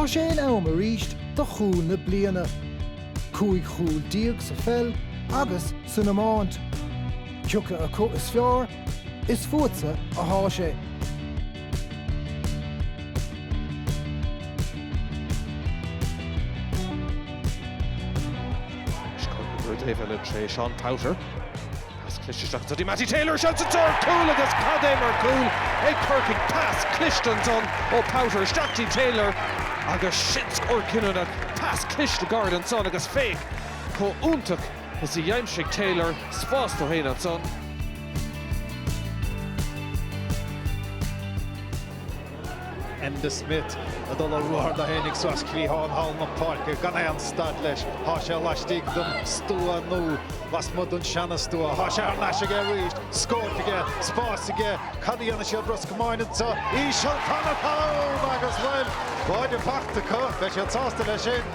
Tá sé in am arís do chúl na bliana. Cúig chúl déag sa pheil agus san iomáint. Cioca acu is fearr? Is fútsa atá sé. David Lynch, Seán Powter. Pas cliste isteach go Matty Taylor seans ar chúl agus cad é mar chúl ag Corcaigh pas cliste ansan ó Powter isteach go dtí Taylor agus sin scór cinniúnach pas cliste gar ansan agus féach chomh iontach is a d'aimsigh Taylor spás dó féin ansan. Enda Smith ag dul ar ruathar dó féin aige suas cliathán thall na páirce gan aon stad leis. Tá sé laistigh den stua nó lasmuigh den seana-stua. Thá sé thar n-ais aige arís. Scóip aige. Spás aige. Cad a dhéanfaidh Ros Comáin anseo? Íseal, tá an cúl ann agus, bhuel, báide fachta acu. Beidh siad sásta leis sin.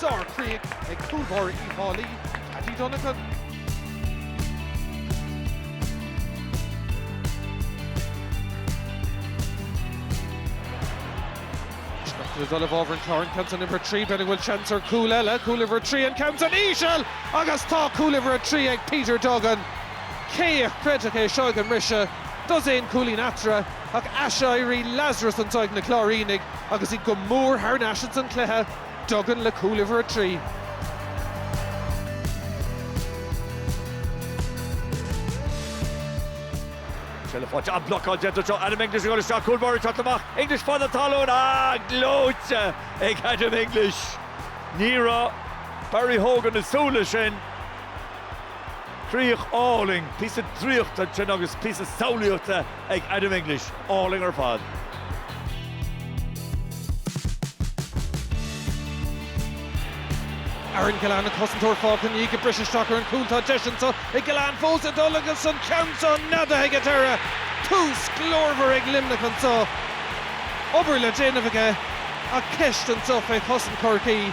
Sár Chríoch ag cúl báire Uí Dhálaí, Paddy Donegan. Isteach le dul i bhfabhar an Chláir an ceann san uimhir a trí, b'fhéidir go bhfuil seans ar chúl eile, cúl uimhir a trí an ceann san íseal agus tá cúl uimhir a trí ag Peter Duggan. Cé a chreidfeadh é seo ag an mbriseadh? Dosaen cúilín eatarthu ach aiséirí Lazarus anso ag na Cláirínigh agus iad go mór thar n-ais ins an cluiche. Duggan le cúl uimhir a trí. An bhlocáil déanta anseo. Adam English ag dul isteach, cúl báire ag teacht amach. English fad an talún. Ah, gleoite ag Adam English. Ní raibh Barry Hogan ag súil leis sin. Críoch álainn, píosa draíochta ansin agus píosa samhlaíochta ag Adam English, álainn ar fad. Aaron Gillane an cosantóir fágtha ina dhiaidh ag briseadh isteach ar an gcúl. Tá deis anseo ag Gillane fós ag dul agus an ceann seo neadaithe ag an deireadh. Tús glórmhar ag Luimneach anseo. Obair le déanamh aige ach ceist anseo fé chosaint Chorcaí.